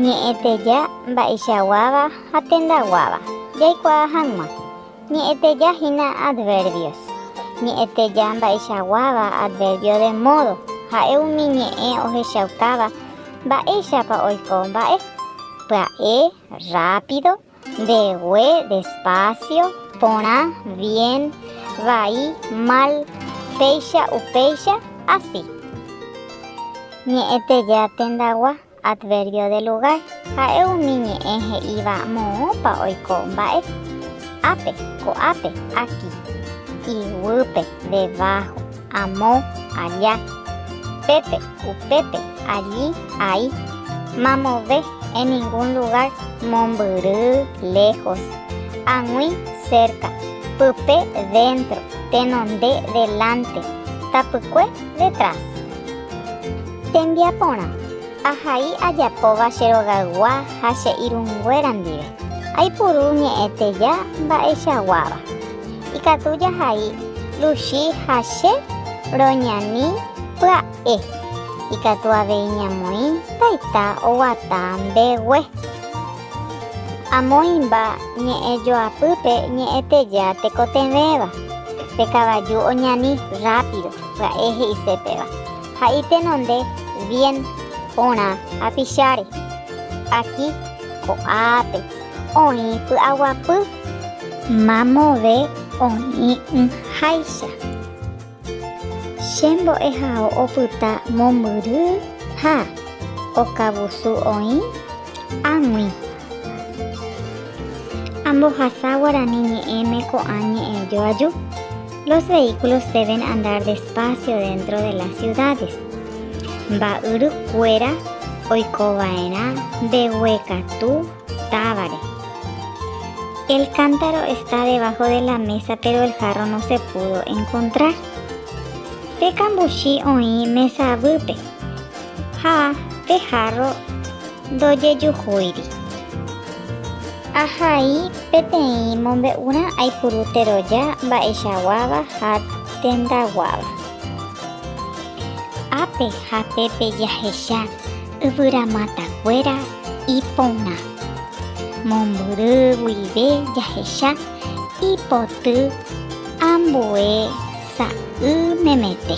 Ñe'ẽteja mba'eichaguáva ha tendaguáva jaikuaa hag̃ua. Ñe'ẽteja hína adverbios. Ñe'ẽteja mba'eichaguáva adverbio de modo ha'e umi ñe'ẽ ohechaukáva mba'éichapa oiko mba'e. Pya'e, rápido, Ndegue despacio, porã, bien, vai, mal, péicha, upéicha, así. Ñe'ẽteja tendagua, adverbio de lugar, ha'e umi ñe'ẽ he'íva moõpa oiko mba'e, ápe, ko'ápe, aquí, iguýpe, debajo. Amo, aja. Pépe, upépe, alli, ai. Mamove, en ningún lugar, mombyry, lejos. Ag̃ui, cerca. Pype, dentro. Tenonde, delante. Tapykue, detrás. Tembiaporã, ahai ajapóva che rogaygua ha che irũnguéra ndive. Aipuru ñe'ẽteja mba'echaguáva. ikatu jahai Luchi ha che roñani pya'e. Ikatu avei ñamoĩ taita oguata mbegue. Amoĩmba ñe'ẽ joapýpe ñe'ẽteja tekotevẽva, pe kavaju oñani rápido pya'e he'ise péva, ha itenonde bien porã apicháre. Aki ko'ápe oĩ py'aguapy. Mamove oĩ'ỹháicha. Che mbo'ehao opyta mombyry ha okavusu oĩ águi. Ambohasa guarani ñe'ẽme ko'ã ñe'ẽ joaju, Los vehículos deben andar despacio dentro de las ciudades. Mba'yrukuéra oikova'erã mbeguekatu. Távare. El cántaro está debajo de la mesa pero el jarro no se pudo encontrar. Pe kambuchi oĩ mesa avýpe ha pe jarro ndojejuhúiri. Ahai peteĩ mombe'urã aipuru teroja mba'eichaguáva ha tendaguáva. Ápe ha pépe jahecha yvyramatakuéra Iporã. Mombyry guive jahecha ipoty ambue sa'y memete.